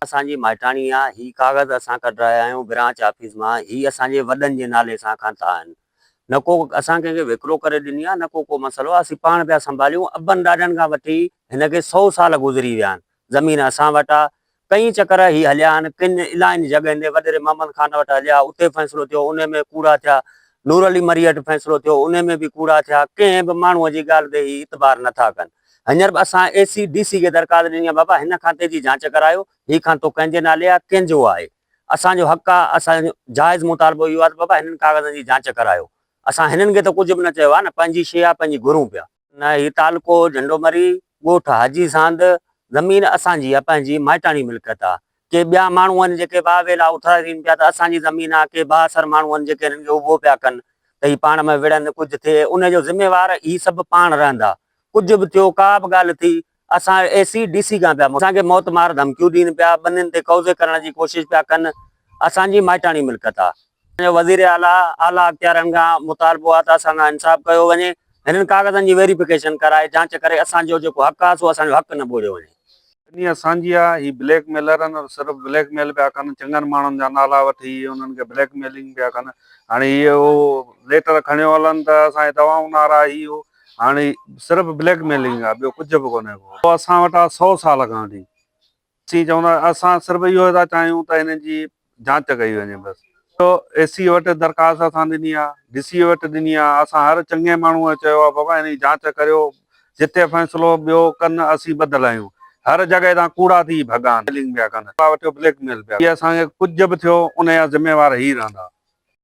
اسان جي مائٽاڻي آ هي ڪاغذ اسان ڪڍرايا آهيون برانچ آفيس مان هي اسان جي وڏن جي نالي سان کانتا آهن نه ڪو اسان ڪنهن کي وڪرو ڪري ڏني آ نه ڪو ڪو مسئلو آ اسين پاڻ پيا سنڀاليون ابن ڏاڏن کان وٺي هن کي سئو سال گذري ويا آهن زمين اسان وٽ آ ڪئين چڪر هي هليا آهن، ڪن الائين جڳهين تي وڏيري محمد خان وٽ هليا، اتي فيصلو ٿيو، انهي ۾ ڪوڙا ٿيا، نور علي مريء هٽ فيصلو ٿيو، انهي ۾ به ڪوڙا ٿيا، ڪنهن به ماڻهوء جي ڳالهه تي هي اعتبار نه ٿا ڪن. هينئر به اسان اي سي ڊي سي کي درخواست ڏني آهي، بابا هن کاتي جي جاچ ڪرايو، هي کاتو ڪنهن جي نالي آهي، ڪنهن جو آهي، اسان جو حق آهي، اسان جو جائز مطالبو اهو آهي ته بابا هنن ڪاغذن جي جاچ ڪرايو، اسان هنن کي ته ڪجهه به نه چيو آهي نه، پنهنجي شيء آهي، پنهنجي گهرون پيا. نه هي تعلقو جهنڊو مري، ڳوٺ حاجي ساند، زمين اسان جي آ، پنهنجي مائٽاڻي ملڪيت آ. ڪي ٻيا ماڻهو آهن جيڪي واهه ويلا اٿارين پيا ته اسان جي زمين آ، ڪي بااثر ماڻهو آهن جيڪي هنن کي اڀو پيا ڪن ته هي پاڻ ۾ وڙهن، ڪجهه ٿئي انهي جو ذميوار هي سڀ پاڻ رهندا. ڪجهه به ٿيو، ڪا به ڳالهه ٿي اسان اي سي ڊي سي کان پيا اسان کي موت مار ڌمڪيون ڏين پيا ٻنين تي قوضي ڪرڻ جي ڪوشش پيا ڪن اسان جي مائٽاڻي ملڪيت آ. اسان جو وزير اعليٰ اعليٰ اختيارين کان مطالبو آ ته اسان کان انصاف ڪيو وڃي هنن ڪاغذن جي ويريفڪيشن ڪرائي جانچ ڪري اسان جو جيڪو حق آ سو اسان جو حق نه ٻوڙيو وڃي. ڪني اسان جي آ هي بليڪ ميلرن ۽ صرف بليڪ ميل پيا ڪن چڱن ماڻهن جا نالا وٺي انهن کي بليڪ ميلنگ پيا ڪن هاڻي هي اهو ليٽر کڻيو هلن ته اسان جي دوائون نارا هي اهو. هاڻ هي صرف بليڪ ميلنگ آ ٻيو ڪجهه به ڪونهي ڪو اسان وٽ آ سو سال کان وٺي اسين چوندا اسان صرف اهو ٿا چاهيون ته هنن جي جانچ ڪئي وڃي بس ڏٺو اي سي وٽ درخواست اسان ڏني آ ڊي سي وٽ ڏني آ اسان هر چڱي ماڻهو چيو آ بابا هنن جي جانچ ڪريو جتي فيصلو ٻيو ڪن اسين ٻڌل آهيون هر جڳهه تان ڪوڙا ٿي ڀڳا ميلنگ پيا ڪن پيا وٺيو بليڪ ميل پيا اسان کي ڪجهه به ٿيو ان جا ذميوار هي رهندا.